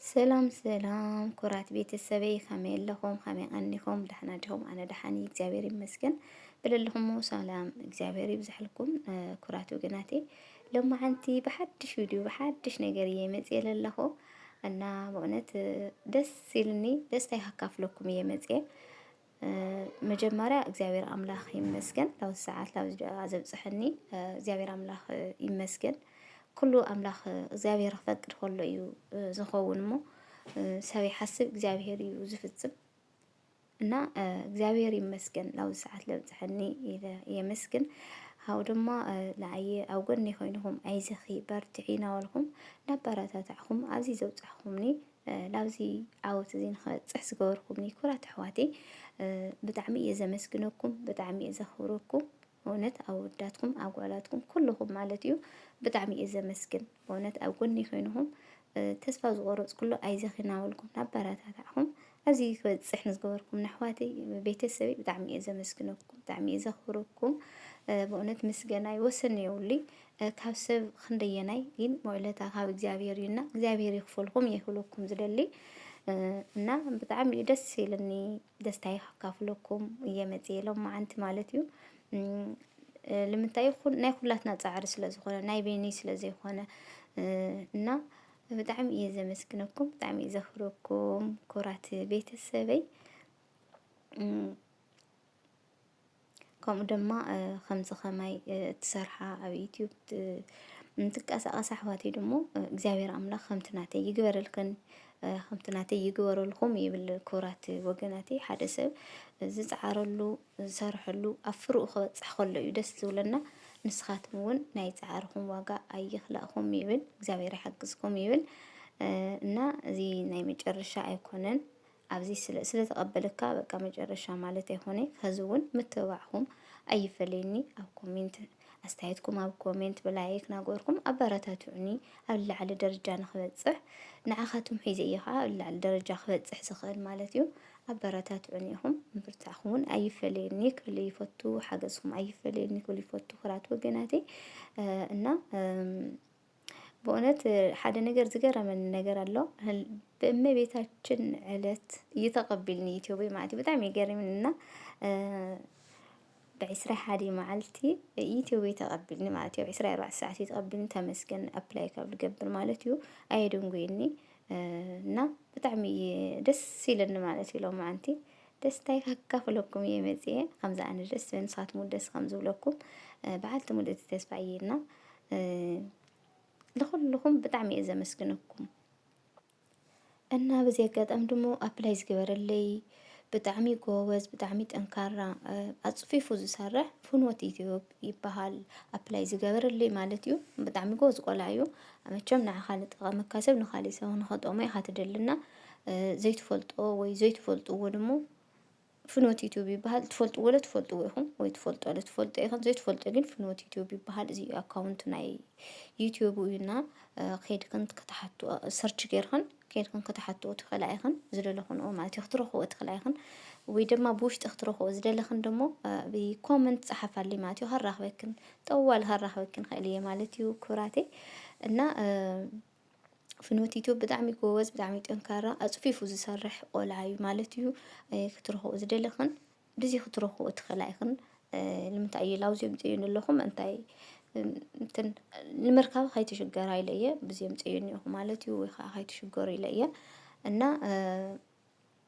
ሰላም ሰላም ኩራት ቤተሰበይ ከመይ ኣለኹም? ከመይ ቀኒኹም? ደሕና ዲኹም? ኣነ ደሓን እየ እግዚኣብሔር ይመስገን። ብለለኹሞ ሰላም እግዚኣብሔር ይብዝሐልኩም ኩራት ወገናቴ። ሎማዓንቲ ብሓድሽ ቪድዮ ብሓድሽ ነገር እየ መፅየ ለለኹ እና በእውነት ደስ ኢልኒ ደስታይ ካካፍለኩም እየ መፅየ መጀመርያ እግዚኣብሔር ኣምላኽ ይመስገን ላብዚ ሰዓት ላብዚ ደቂቃ ዘብጽሐኒ እግዚኣብሔር ኣምላኽ ይመስገን። ኩሉ ኣምላኽ እግዚኣብሔር ክፈቅድ ከሎ እዩ ዝኸውን እሞ ሰብ ይሓስብ እግዚኣብሔር እዩ ዝፍጽም እና እግዚኣብሔር ይመስገን ላብዚ ሰዓት ለብጽሐኒ ኢለ የመስግን። ካብኡ ድማ ንዓየ ኣብ ጎኒ ኮይንኹም ኣይዘኺ በርትዒ እናበልኩም እናበረታታዕኹም ኣብዚ ዘብጻሕኹምኒ ላብዚ ዓወት እዚ ንክበፅሕ ዝገበርኩምኒ ኩራት ኣሕዋተይ ብጣዕሚ እየ ዘመስግነኩም፣ ብጣዕሚ እየ ዘኽብረኩም። በእውነት ኣወዳትኩም ኣጓላትኩም ኩልኹም ማለት እዩ ብጣዕሚ እየ ዘመስግን በእውነት ኣብ ጎኒ ኮይንኹም ተስፋ ዝቆረፅኩሉ ኣይዘኺናበልኩም ናበረታታዕኹም ኣብዚ ክበፅሕ ንዝገበርኩም ኣሕዋተይ ቤተሰበይ ብጣዕሚ እየ ዘመስግነኩም ብጣዕሚ እየ ዘኽብረኩም በእውነት ምስገናይ ወሰን የብሉይ ካብ ሰብ ክንደየናይ ግን ውዕለታ ካብ እግዚኣብሔር እዩና እግዚኣብሔር ይክፈልኩም የክብለኩም ዝደሊ እና ብጣዕሚ እዩ ደስ ኢልኒ ደስታይ ካፍለኩም እየ መፅየ ሎም መዓንቲ ማለት እዩ ልምንታይ ናይ ኩላትና ፃዕሪ ስለ ዝኾነ ናይ ቤኒ ስለ ዘይኮነ እና ብጣዕሚ እየ ዘመስግነኩም ብጣዕሚ እየ ዘኽብረኩም ኩራት ቤተሰበይ ከምኡ ድማ ከምዚ ከማይ እትሰርሓ ኣብ ዩትዩብ እንትንቀሳቐሳ ኣሕዋተይ ደሞ እግዚኣብሔር ኣምላኽ ከምቲ ናተይ ይግበረልክን ከምቲ ናተይ ይግበረልኩም ይብል። ክቡራት ወገናተይ ሓደ ሰብ ዝፀዓረሉ ዝሰርሐሉ ኣብ ፍርኡ ክበፅሕ ከሎ እዩ ደስ ዝብለና። ንስኻትኩም እውን ናይ ፃዕርኹም ዋጋ ኣይኽላእኹም ይብል እግዚኣብሔር ይሓግዝኩም ይብል። እና እዚ ናይ መጨረሻ ኣይኮነን። ኣብዚ ስለ ስለ ተቀበለካ በቃ መጨረሻ ማለት ኣይኮነ ከዚ እውን ምትብባዕኹም ኣይፈለየኒ ኣብ ኮሜንት ኣስተያየትኩም ኣብ ኮሜንት ብላይክ ናገርኩም ኣበረታትዑኒ ኣብ ላዕሊ ደረጃ ንክበፅሕ ንዓኻትኩም ሒዘ እየ ከዓ ኣብ ላዕሊ ደረጃ ክበፅሕ ዝኽእል ማለት እዩ ኣበረታትዑኒ ኢኹም ምብርታዕኹም እውን ኣይፈለየኒ ክብል ይፈቱ ሓገዝኩም ኣይፈለየኒ ክብል ይፈቱ ክራት ወገናተይ እና በእውነት ሓደ ነገር ዝገረመኒ ነገር ኣሎ ብእመቤታችን ዕለት እዩ ተቐቢልኒ ኢትዮበይ ማለት እዩ ብጣዕሚ ይገርምን እና ብዕስራ ሓደ መዓልቲ ኢትዮበይ ተቐቢልኒ ማለት እዩ ዕስራ ኣርባዕተ ሰዓት እዩ ተቐቢልኒ ተመስገን ኣፕላይ ካብ ልገብር ማለት እዩ ኣየድንጉይኒ እና ብጣዕሚ ደስ ኢለኒ ማለት እዩ ሎማዓንቲ ደስታይ ከካፍለኩም እየ መጽየ ከምዚ ኣነ ደስ ዝብል ንስኻትኩም እውን ደስ ከም ዝብለኩም በዓልቲ ሙሉ እቲ ተስፋ እየ እና ንኩልኹም ብጣዕሚ እየ ዘመስግነኩም እና በዚ ኣጋጣሚ ድሞ ኣፕላይ ዝገበረለይ ብጣዕሚ ጎበዝ ብጣዕሚ ጠንካራ ኣፅፊፉ ዝሰርሕ ፍኖት ኢትዮብ ይበሃል ኣፕላይ ዝገበረለይ ማለት እዩ ብጣዕሚ ጎበዝ ቆልዓ እዩ መቸም ንዓኻ ንጠቐመካ ሰብ ንኻሊእ ሰብ ንኸጠቕሞ ኢኻ ትደሊ እና ዘይትፈልጦ ወይ ዘይትፈልጥዎ ድሞ ፍኖት ዩቱብ ይበሃል ትፈልጥዎ ለ ትፈልጥዎ ኢኹም ወይ ትፈልጦ ለ ትፈልጦ ኢኹም ዘይትፈልጦ ግን ፍኖት ዩቱብ ይበሃል እዚ ኣካውንት ናይ ዩቱብ እዩና ከድክን ክትሓት ሰርች ገርክን ከድክን ክትሓትዎ ትኽእላ ኢኽን ዝደለኹንኦ ማለት እዩ ክትረኽቦ ትኽእላ ኢኽን ወይ ድማ ብውሽጢ ክትረኽቦ ዝደለኽን ደሞ ብኮመንት ፀሓፋሊ ማለት እዩ ከራኽበክን ጠዋል ከራኽበክን ኽእል እየ ማለት እዩ ኩራቴ እና ፍኖት ዩቱብ ብጣዕሚ ጎበዝ ብጣዕሚ ጠንካራ ኣፅፊፉ ዝሰርሕ ቆልዓ እዩ ማለት እዩ ክትረኽቦ ዝደለኽን ብዚ ክትረኽቦ ትኽእላ ኢኽን ንምንታይ እየ ላብዚ ኣምፂኦኒ ኣለኹ ምእንታይ እንትን ንምርካብ ከይትሽገራ ኢለ እየ ብዚ ኣምፂኦኒ ኣለኹ ማለት እዩ ወይ ከዓ ከይትሽገሩ ኢለ እየ እና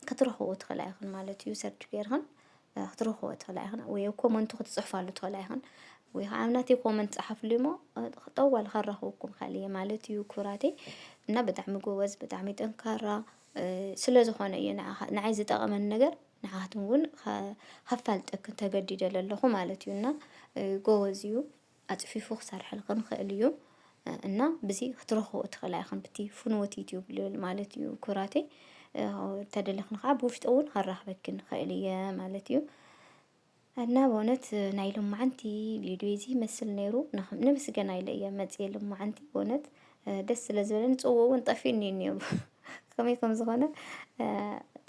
ክትረኽብዎ ትኽእላ ኢኽን ማለት እዩ ሰርች ጌርኽን ክትረኽብዎ ትኽእላ ኢኽን ወይ ኣብ ኮመንቱ ክትጽሕፋሉ ትኽእላ ኢኽን ወይ ከዓ ኣብ ናተይ ኮመንት ጸሓፍሉ እሞ ጠዋል ከራኽበኩም ኸእል እየ ማለት እዩ ኩራተይ እና ብጣዕሚ ጎበዝ ብጣዕሚ ጠንካራ ስለ ዝኾነ እዩ ንዓይ ዝጠቐመኒ ነገር ንዓኻትኩም እውን ከፋልጠክን ተገዲደ ለለኹ ማለት እዩ እና ጎበዝ እዩ። ኣጽፊፉ ክሰርሐልክን ይክእል እዩ እና ብዚ ክትረክቦ ትክእላ ኢክን ብቲ ፍንወት ዩቱብ ልብል ማለት እዩ ኩራተይ ተደለክን ከዓ ብውሽጢ እውን ከራክበክን ይክእል እየ ማለት እዩ እና በእውነት ናይ ሎማዓንቲ ቪድዮ እዚ ይመስል ነይሩ ንምስገና ኢለ እየ መፅየ ሎማዓንቲ በእውነት ደስ ስለ ዝበለኒ ፅዎ እውን ጠፊእኒ እዩ እኒኦ ከመይ ከም ዝኾነ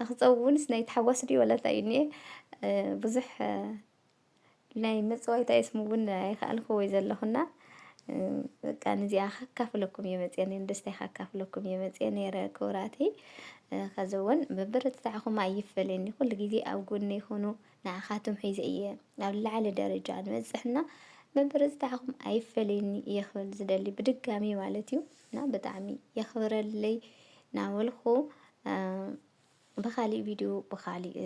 ንክፀውውንስ ናይ ተሓዋስ ድዩ ወላ እንታይ እዩ እኒኤ ብዙሕ ናይ ምጽዋይ እንታይ ስሙ እውን ኣይኸኣልኩ ወይ ዘለኹና በቃ ንዚኣ ከካፍለኩም እየ መፅአ ነን ደስታይ ከካፍለኩም እየ መፅአ ነይረ ክብራተይ ከዚ እውን ብብርትታዕኹም ኣይፈለየኒ ኩሉ ግዜ ኣብ ጎኒ ይኹኑ ንዓኻትም ሒዘ እየ ኣብ ላዕሊ ደረጃ ንበፅሕና ብብርትታዕኹም ኣይፈለየኒ እየ ክብል ዝደሊ ብድጋሚ ማለት እዩ እና ብጣዕሚ የኽብረለይ ናበልኩ ብኻሊእ ቪድዮ ብኻሊእ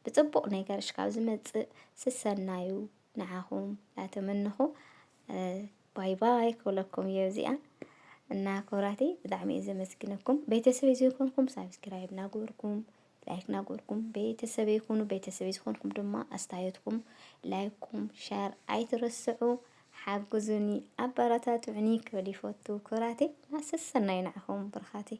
ብፅቡቕ ነገርሽ ካብ ዝመፅእ ስሰናዩ ንዓኹም ላተመንኹ ባይ ባይ ክብለኩም እየ እዚኣ እና ክብራተይ ብጣዕሚ እየ ዘመስግነኩም ቤተሰበይ ዘይኮንኩም ሳብስክራይብ ናገበርኩም ላይክ ናገበርኩም ቤተሰበይ ይኹኑ ቤተሰበይ ዝኾንኩም ድማ ኣስተያየትኩም ላይኩም ሸር ኣይትረስዑ ሓግዙኒ ኣበረታትዑኒ ክብል ይፈቱ ክብራተይ ናሰሰናይ ናዕኹም ብርኻተይ